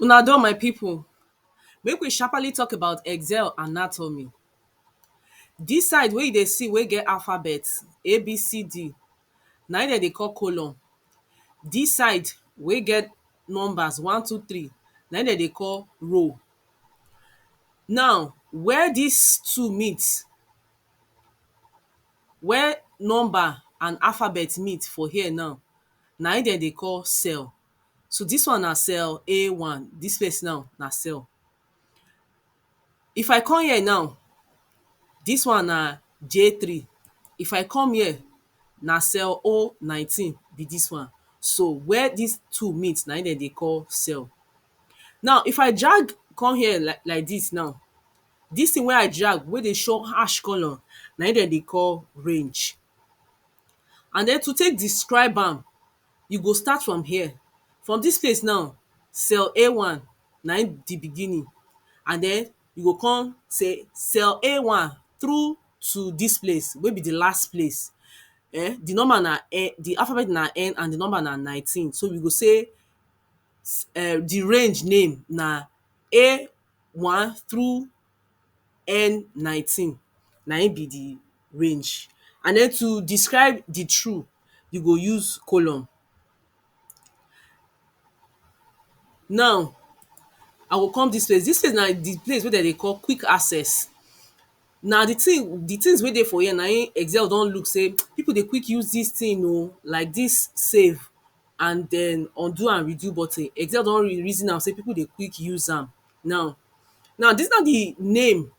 Una done my pipu, make we sharpaly talk about excel anatomy. Dis side wey you dey see wey get alphabet A, B, C, D na im dem dey call colon. Dis side wey get numbers one, two, three na im dem dey call row. Now where dis two meet Where number and alphabet meet for here now, na im dem dey call cell. So dis one na cell A one, dis place now na cell. If I come here now, dis one na J three. If I come here, na cell O nineteen be dis one. So where dis two meet na im dem dey call cell. Now if I drag come here like like dis now Dis thing wey I drag wey dey show ash colour na im dem dey call range and then to take describe am you go start from here from dis place now cell A one na im be beginning and then you go come say cell A one through to dis place wey be the last place um the number na en the alphabet na en and the number na nineteen so we go say um the range name na A one through N nineteen na im be di range and den to describe di true you go use colon. Now I go come dis place, dis place na di place wey dem dey call quick access na di thing di things wey dey for here na im excel don look sey people dey quick use dis thing oh like dis save and den undo and redo button Excel don reason am sey people dey quick use am now Now dis na the name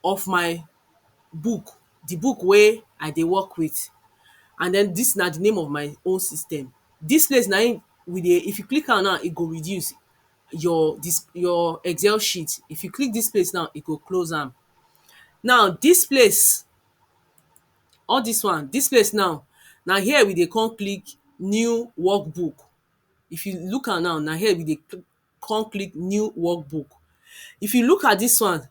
of my book The book wey I dey work with and den dis na the name of my own system Dis place na im we dey, if you click am now, e go reduce your dis your Excel sheet If you click dis place now, e go close am Now dis place All dis one, dis place now na here we dey come click new work book. If you look am now, na here we dey come click new work book. If you look at dis one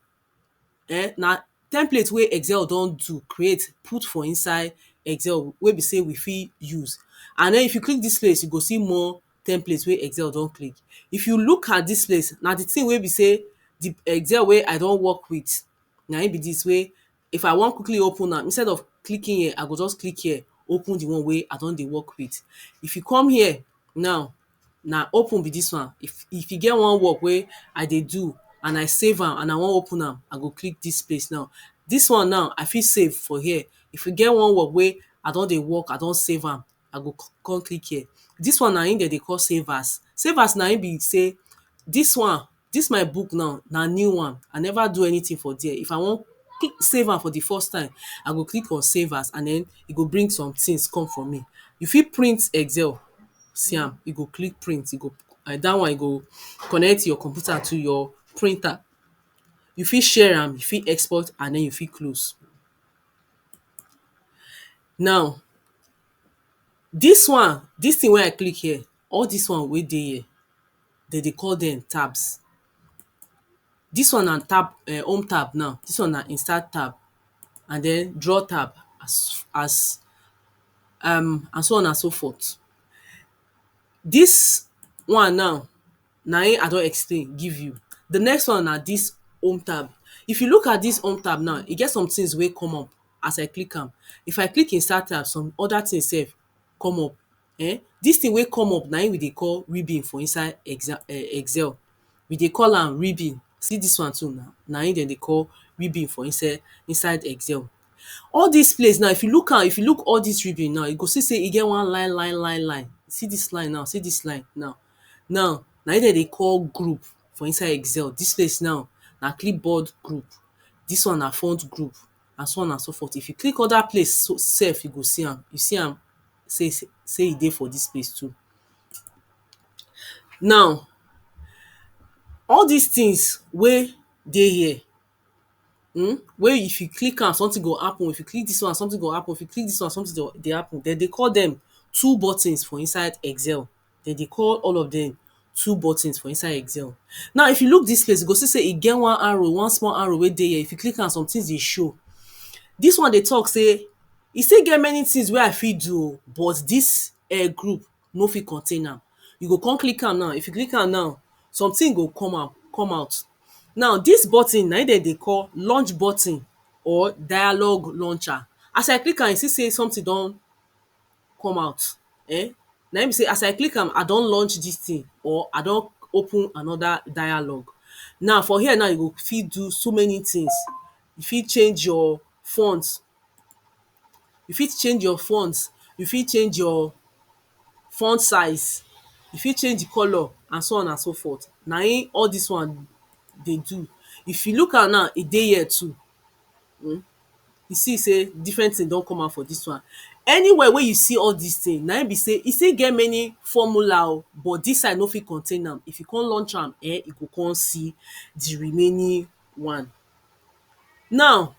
um na template wey Excel don do, create put for inside Excel wey be sey we fit use. And den if you click dis place, you go see more template wey Excel don create. If you look at dis place, na the thing wey be sey the Excel wey I don work with na im be dis wey If I wan quickly open am, instead of clicking here, I go just click here, open the one wey I don dey work with. If you come here now, na open be dis one. If if e get one work wey I dey do and I save am and I wan open am, I go click dis place now. Dis one now, I fit save for here. If e get one work wey I don dey work, I don save am, I go come click here. Dis one na im dem dey call save as. Save as na im be sey dis one, dis my book now na new one. I never do anything for dere. If I wan save am for the first time, I go click on save as and den e go bring some things come for me. You fit print Excel. See am. You go click print. You go na dat one you go connect your computer to your printer. You fit share am, you fit export and den you fit close. Now, dis one, dis thing wey I click here, all dis one wey dey here, dem dey call dem tabs. Dis one na tab um home tab now, dis one na insert tab and den drawer tab as as um and so on and so forth. Dis one now, na im I don explain give you. De next one na dis home tab. If you look at dis home tab now, e get some things wey come up. as I click am, if I click insert am some other thing self come up um dis thing wey come up na im we dey call ribbon for inside exam um excel we dey call am ribbon see dis one too now na im dem dey call ribbon for inside inside excel all dis place now if you look am if you look all dis ribbon now you go see sey e get one line line line line see dis line now see dis line now now na im dem dey call group for inside excel dis place now na clipboard group dis one na front group and so on and so forth. If you click other place so sef you go see am, you see am sey sey e dey for dis place too. Now, all dis things wey dey here um wey if you click am something go happen, if you click dis one something go happen, if you click dis one something dey happen. Dem dey call dem tool buttons for inside excel. dem dey call all of dem two buttons for inside excel. Now if you look dis place you go see sey e get one arrow one small arrow wey dey here if you click am somethings dey show dis one dey talk sey e still get many things wey I fit do oh but dis um group no fit contain am you go come click am now if you click am now something go come out come out now dis button na im dem dey call launch button or dialogue launcher as I click am you see sey something don come out um na im be sey as I click am I don launch this thing or I don open another dialogue now for here now you go fit do so many things you fit change your fonts you fit change your fonts you fit change your font size you fit change the colour and so on and so forth na im all this one dey do if you look am now e dey here too um you see sey different thing don come out for dis one anywhere wey you see all dis thing na im be sey e still get many formula oh but dis side no fit contain am if you come launch am um you go come see the remaining one now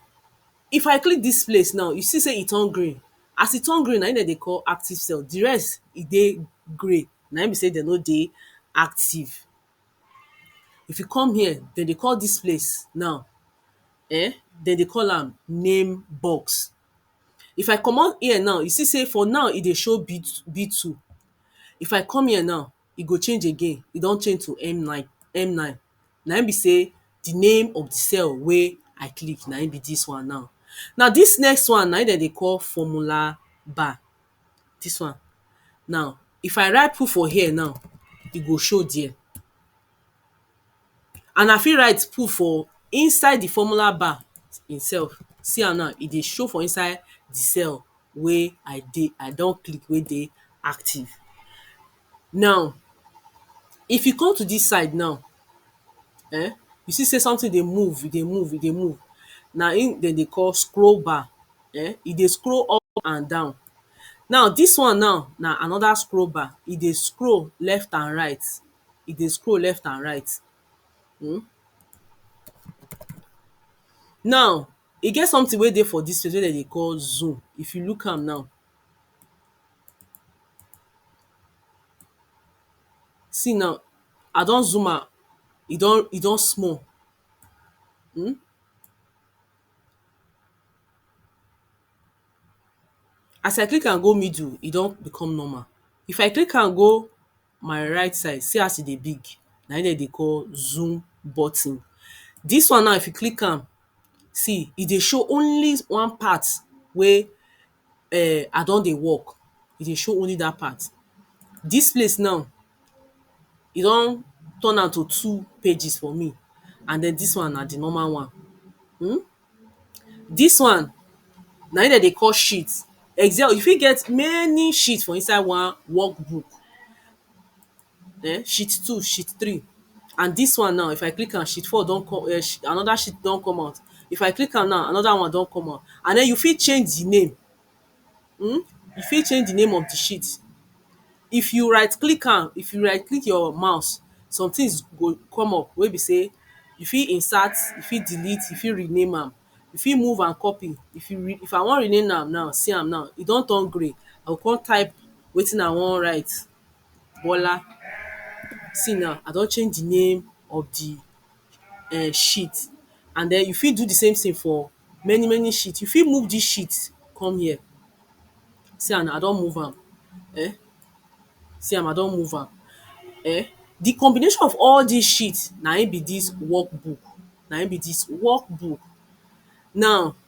if I click dis place now you see sey e turn green as e turn green na im dem dey call active cell the rest e dey grey na im be sey dem no dey active If you come here, dem dey call dis place now um dem dey call am name box. If I comot ear now, you see sey for now e dey show B two B two. If I come here now, e go change again. E don change to M nine M nine. Na im be sey the name of the cell wey I click na im be dis one now. Now dis next one na im dem dey call formula bar. dis one now if I write put for here now e go show there and I fit write put for inside the formula bar im self see am now e dey show for inside the cell wey I dey I don click wey dey active Now, if you come to dis side now um, you see sey something dey move, e dey move, e dey move. Na im de dey call scroll bar. um E dey scroll up and down. Now, dis one now na another scroll bar. E dey scroll left and right. E dey scroll left and right. um Now, e get something wey dey for dis place wey de dey call zoom. If you look am now, See now, I don zoom am, e don e don small um as I click am go middle, e don become normal. If I click am go my right side, see as e dey big, na im dem dey call zoom button. Dis one now if you click am, see e dey show only one part wey um I don dey work, e dey show only dat part. Dis place now, e don turn am to two pages for me and den dis one na di normal one. um Dis one, na im dem dey call sheet. Excel, you fit get many sheet for inside one work book. um sheet two, sheet three and dis one now if I click am sheet four don come um another sheet don come out if I click am now another one don come out and den you fit change di name um you fit change di name of di sheet if you right click am if you right click your mouse somethings go come up wey be sey you fit insert you fit delete you fit rename am you fit move and copy if you re if I wan rename am now see am now e don turn grey I go come type wetin I wan write Bola see now I don change the name of the um sheet and then you fit do the same thing for many many sheet. You fit move this sheet come here see am now I don move am um see am I don move am um the combination of all this sheet na him be this work book na him be this work book now